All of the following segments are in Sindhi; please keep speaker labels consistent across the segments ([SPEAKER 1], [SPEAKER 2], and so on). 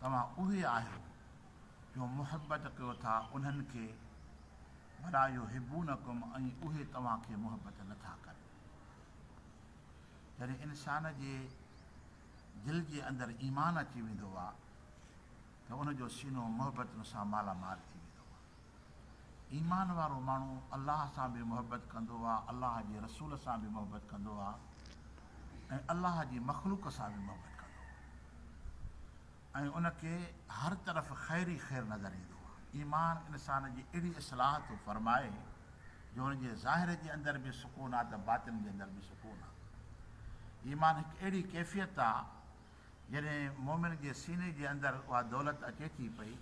[SPEAKER 1] توهان اهي آهيو جو محبت ڪيو ٿا انهن کي، ولا يحبونڪم ۽ اهي توهان کي محبت نه ٿا ڪن. جڏهن انسان جي دل جي اندر ايمان اچي ويندو آهي ته ان جو سينو محبتن سان مالا مال ٿي ويندو آهي. ايمان وارو ماڻهو الله سان به محبت ڪندو آهي، الله جي رسول سان به محبت ڪندو آهي ۽ الله جي مخلوق سان به محبت ڪندو آهي ۽ ان کي هر طرف خير ئي خير نظر ايندو آهي. ايمان انسان جي اهڙي اصلاح ٿو فرمائي جو ان جي ظاهر جي اندر به سڪون آهي ته باطن جي اندر به سڪون آهي. ايمان هڪ اهڙي ڪيفيت آهي جڏهن مؤمن جي سيني جي اندر اها دولت اچي ٿي پئي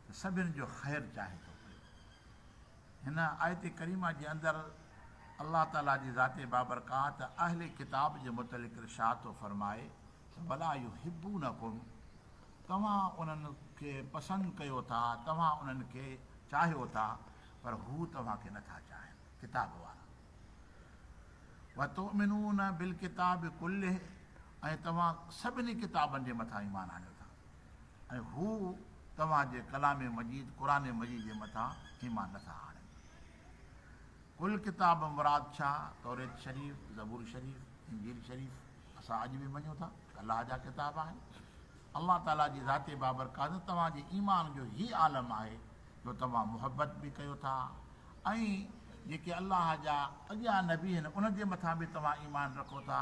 [SPEAKER 1] ته سڀن جو خير چاهي ٿو پيو. هن آيت ڪريمه جي اندر الله تعالي جي ذات بابرڪات اهل ڪتاب جي متعلق ارشاد ٿو فرمائي ته ولا يحبونڪم توهان انهن کي پسند ڪيو ٿا، توهان انهن کي چاهيو ٿا پر هو توهان کي نٿا چاهين، ڪتاب وارا. وتؤمنون بالڪتاب ڪله ۽ توهان سڀني ڪتابن جي مٿان ايمان آڻيو ٿا. ۽ هو توهان جي ڪلام مجيد قرآن مجيد جي مٿان ايمان نه ٿا آڻين. قل ڪتاب مراد ڇا؟ توريت شريف، زبور شريف، انجيل شريف اسان اڄ به مڃون ٿا الله جا ڪتاب آهن. الله تعاليٰ جي ذات بابرڪات توهان جي ايمان جو هي عالم آهي جو توهان محبت به ڪيو ٿا ۽ جيڪي الله جا اڳيان نبي آهن انهن جي مٿان به توهان ايمان رکو ٿا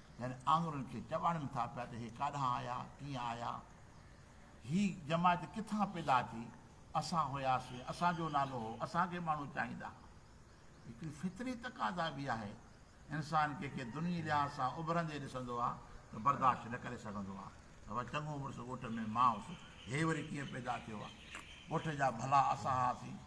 [SPEAKER 1] يعني آڱرين کي چٻاڙين ٿا پيا ته هي ڪاڏانهن آيا، ڪيئن آيا، هي جماعت ڪٿان پيدا ٿي، اسان هياسين، اسان جو نالو هو، اسان کي ماڻهو چاهيندا ها. هڪڙي فطري تقاضا به آهي، انسان ڪنهن کي دنيي لحاظ سان اڀرندي ڏسندو آ ته برداشت نه ڪري سگهندو آ ته وا چڱو مڙس ڳوٺ ۾ مان هوس، هي وري ڪيئن پيدا ٿيو آ، ڳوٺ جا ڀلا اسان هئاسين،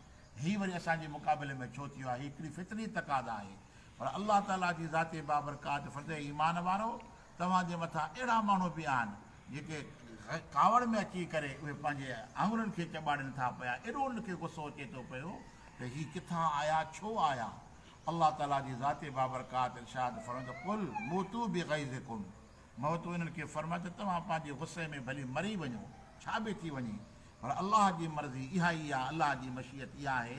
[SPEAKER 1] هي وري اسان جي مقابلي ۾ ڇو ٿيو آ، هي هڪڙي فطري تقاضا آهي. پر الله تعاليٰ جي ذات بابرڪات فرد اي ايمان وارؤ! توهان جي مٿان اهڙا ماڻهو به آهن، جيڪي ڪاوڙ ۾ اچي ڪري اهي پنهنجي آڱرين کي چٻاڙين ٿا پيا، ايڏو انهن کي غصو اچي ٿو پيو ته هي ڪٿان آيا، ڇو آيا؟ الله تعاليٰ جي ذات بابرڪات ارشاد فرمائي ٿو، قل موتوا بغيظڪم، مهو تون انهن کي فرماء ته توهان پنهنجي غصي ۾ ڀلي مري وڃو، ڇا به ٿي وڃي، پر الله جي مرضي اها ئي آهي، الله جي مشيت اها آهي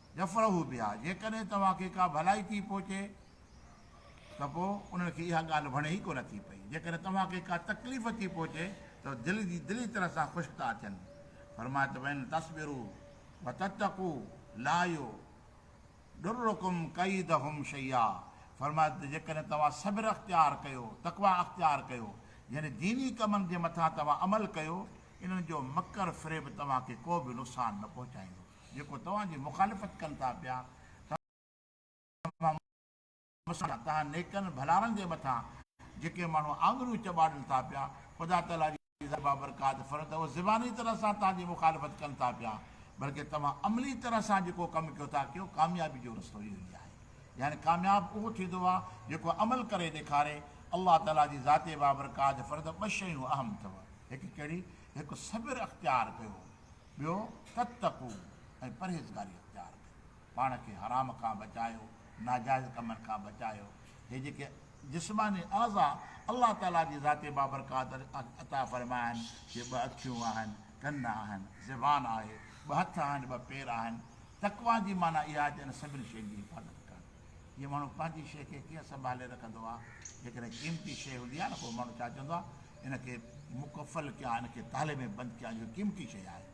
[SPEAKER 1] يفرحوا بها، جيڪڏهن توهان کي ڪا ڀلائي ٿي پهچي ته پوء انهن کي اها ڳالهه وڻي ئي ڪونه ٿي پئي، جيڪڏهن توهان کي ڪا تڪليف ٿي پهچي ته دل جي دلي طرح سان خوش ٿا ٿين. فرمايو ته وان تصبروا وتتقوا لايضرڪم ڪيدهم شيئا، فرمايو ته جيڪڏهن توهان صبر اختيار ڪيو، تقويٰ اختيار ڪيو، يعني ديني ڪمن جي مٿان توهان عمل ڪيو، انهن جو مڪر فريب توهان کي ڪو به نقصان نه پهچائيندو. جيڪو توهان جي مخالفت ڪن ٿا پيا، توهان مسلمان، توهان نيڪن ڀلارن جي مٿان جيڪي ماڻهو آڱريون چٻاڙن ٿا پيا، خدا تعاليٰ جي ذات بابرڪات فرمائي ته اهي زباني طرح سان توهان جي مخالفت ڪن ٿا پيا، بلڪه توهان عملي طرح سان جيڪو ڪم ڪيو ٿا ڪيو، ڪاميابي جو رستو اهو ئي آهي. يعني ڪامياب اهو ٿيندو آهي جيڪو عمل ڪري ڏيکاري. الله تعاليٰ جي ذات بابرڪات فرمائي ته ٻه شيون اهم اٿو، هڪ ڪهڙي؟ هڪ صبر اختيار ڪيو، ٻيو، تتقو ۽ پرهيزگاري اختيار ڪيو، پاڻ کي حرام کان بچايو، ناجائز ڪمن کان بچايو، هي جيڪي جسماني اعضاء الله تعالي جي ذات بابرڪات عطا فرمايا آهن، جي ٻه اکيون آهن، ڪن آهن، زبان آهي، ٻه هٿ آهن، ٻه پير آهن، تقويٰ جي معنيٰ اها آهي ته انهن سڀني شين جي حفاظت ڪرڻ، جيئن ماڻهو پنهنجي شيء کي ڪيئن سنڀالي رکندو آهي، جيڪڏهن قيمتي شيء هوندي آهي نه پوء ماڻهو ڇا چوندو آهي ان کي مقفل ڪيا، ان کي تالي ۾ بند ڪيا جو قيمتي شيء آهي،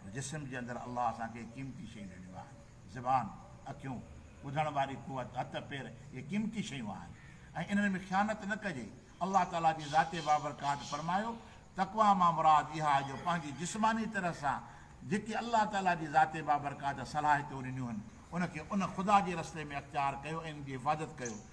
[SPEAKER 1] پر جسم جي اندر الله اسان کي قيمتي شيون ڏنيون آهن، زبان، اکيون، ٻڌڻ واري قوت، هٿ، پير، اهي قيمتي شيون آهن ۽ انهن ۾ خيانت نه ڪجي، الله تعاليٰ جي ذات بابرڪات فرمايو، تقويٰ مان مراد اها آهي جو پنهنجي جسماني طرح سان جيڪي الله تعاليٰ جي ذات بابرڪات صلاحيتون ڏنيون آهن، ان کي ان خدا جي رستي ۾ اختيار ڪيو ۽ ان جي حفاظت ڪيو.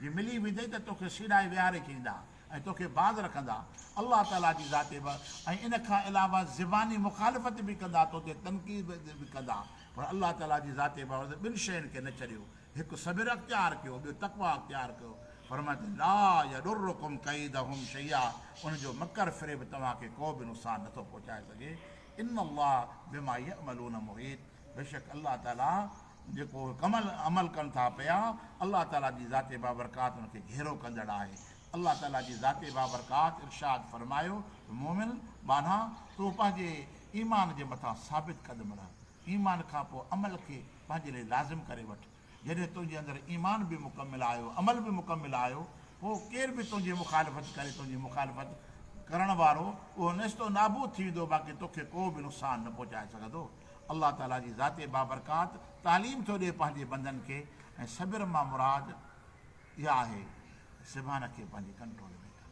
[SPEAKER 1] جي ملي ويندئي ته توکي سيڙائي ويهاري ڇڏيندا ۽ توکي باز رکندا. الله تعاليٰ جي ذاتي به ۽ ان کان علاوه زباني مخالفت به ڪندا تو تي تنقيد به ڪندا پر الله تعاليٰ جي ذاتي بابت ٻن شين کي نه ڇڏيو هڪ صبر اختيار ڪيو ٻيو تقويٰ اختيار ڪيو فرمائي ته لا يضرڪم ڪيدهم شيئا انهن جو مڪر فريب توهان کي ڪو به نقصان نه ٿو پهچائي سگهي ان الله بما يعملون محيط بيشڪ الله تعالي جيڪو اهي ڪم عمل ڪن ٿا پيا، الله تعالي جي ذات بابرڪات ان کي گهيرو ڪندڙ آهي. الله تعالي جي ذات بابرڪات ارشاد فرمايو ته مؤمن ٻانها! تو پنهنجي ايمان جي مٿان ثابت قدم رهه، ايمان کان پوء عمل کي پنهنجي لئي لازم ڪري وٺ، جڏهن تنهنجي اندر ايمان به مڪمل آيو عمل به مڪمل آيو پوء ڪير به تنهنجي مخالفت ڪري تنهنجي مخالفت ڪرڻ وارو اهو نيست و نابود ٿي ويندو باقي توکي ڪو به نقصان نه پهچائي سگهندو الله تعالي جي ذات بابرڪات تعليم ٿو ڏي پنهنجي بندن کي ۽ صبر مان مراد اها آهي ته زبان کي پنهنجي ڪنٽرول ۾ ڪر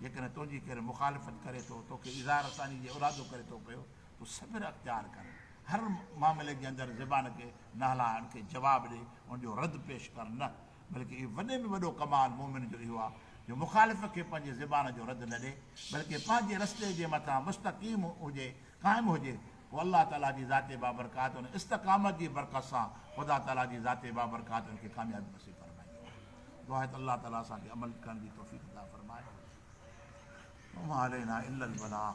[SPEAKER 1] جيڪڏهن تنهنجي ڪير مخالفت ڪري ٿو توکي اظهار ثاني جي ارادو ڪري ٿو پيو تون صبر اختيار ڪر هر معاملي جي اندر زبان کي نه هلائڻ کي جواب ڏي ان جو رد پيش ڪر نه بلڪه اي وڏي ۾ وڏو ڪمال مؤمن جو اهو آ جو مخالف کي پنهنجي زبان جو رد نه ڏي بلڪه پنهنجي رستي جي مٿان مستقيم هجي قائم هجي پوء الله تعالي جي ذات بابرڪات ان استقامت جي برڪت سان خدا تعالي جي ذات بابرڪات ان کي ڪاميابي نصيب فرمائيندو آ دعا آهي ته الله تعالي اسان کي عمل ڪرڻ جي توفيق عطا فرمائي وما علينا الا البلاغ.